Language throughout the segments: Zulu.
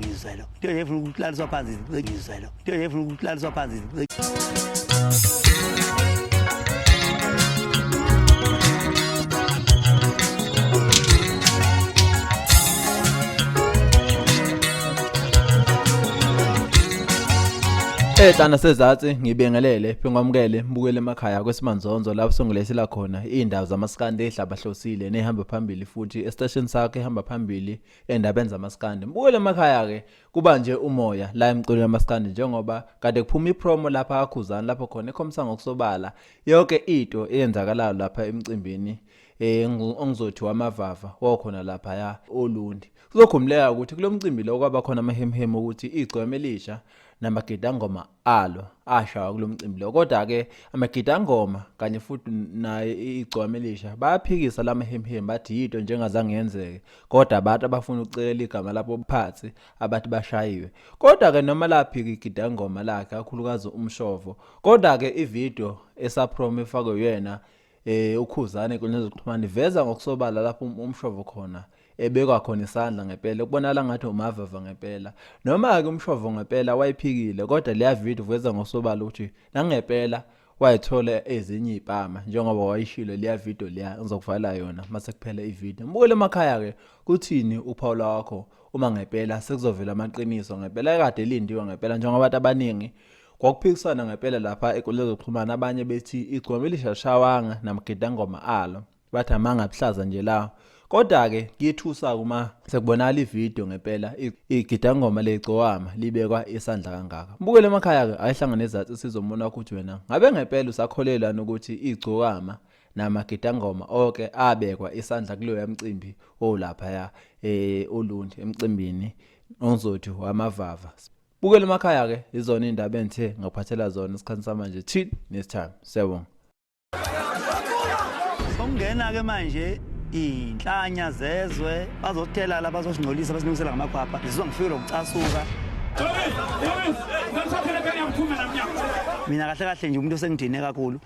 ngizwelo into efuna ukulaliswa phansi ngizwelo into efuna ukulaliswa phansi Ehlana sezatsi ngibengelele phengwamukele mbukele emakhaya kwesimanzonzo lapho songilethela khona izindawo zamaskandi ehlabahlosile nehamba phambili futhi estation sakhe ehamba phambili and abenza amaskandi mbuyele emakhaya ke kuba nje umoya la emculweni amaskandi njengoba kade kuphuma ipromo lapha akhuzani lapho khona ekhomisa ngokusobala yonke into eyenzakalayo lapha emcimbini eh ongizothi wamavava wakhona lapha ya olundi kuzokhumleka ukuthi kulomcimbi lo kwaba khona amahemhemu ukuthi igcweme lisha namagidangoma alo ashawa kulomcimbi lo kodwa ke amagidangoma kanye futhi naye igcwame lisha bayaphikisa lamahemhem bathi yito njengazange yenzeke kodwa abantu abafuna ukucekela igama labo phansi abathi bashayiwe kodwa ke noma laphika igidangoma lakhe akhulukazi umshovo kodwa ke ivideo esaphrom efakwe yena eh ukhuzane kwenye zokuxhumana iveza ngokusobala lapho um-, umshovo khona ebekwa khona isandla ngempela kubonakala ngathi umavava ngempela noma-ke umshovo ngempela wayiphikile kodwa leya video uveza ngosobala ukuthi nangempela wayithola ezinye iy'pama njengoba wayishilo leya video leya ngizokuvala yona uma sekuphela ivideo mbukele emakhaya-ke kuthini uphawula wakho uma ngempela sekuzovela amaqiniso ngempela kade elindiwe ngempela njengoba abantu abaningi Kwakuphikisana ngempela lapha enkundleni zokuxhumana abanye bethi igcwama elishashawanga namagidangoma alo bathi amanga abuhlaza nje lawo kodwa-ke kuyethusa uma sekubonakala ividiyo ngempela igidangoma legcowama libekwa isandla kangaka mbukele emakhaya-ke ayehlangane ezathu sizomona ukuthi wena ngabe ngempela usakholelwani ukuthi igcokama namagidangoma oke abekwa isandla kuleyo yamcimbi owulaphaya um eh, olundi emcimbini onzothi wamavava bukela emakhaya ke izona indaba engithe ngaphathela zona isikhathi samanje till next time siyabonga songena ke manje inhlanya zezwe bazothela la bazosingcolisa basilungisela ngamakhwapha ngizizwa ngifikele ukucasuka mina kahle kahle nje umuntu osengidine kakhulu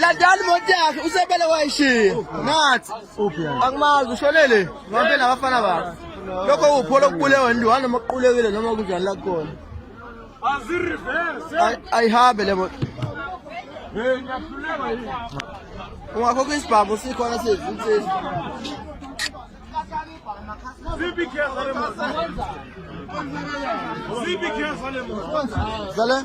Landani imoto yakhe usebele wayishiya. Ngathi angimazi ushonele ngihambe nabafana bakhe. Lokho upho lokubulewa nje wani noma kuqulekile noma kunjani la khona. Ayihambe le moto. Ungakho kwisibhamu sikhona sezi insizwa. Zale.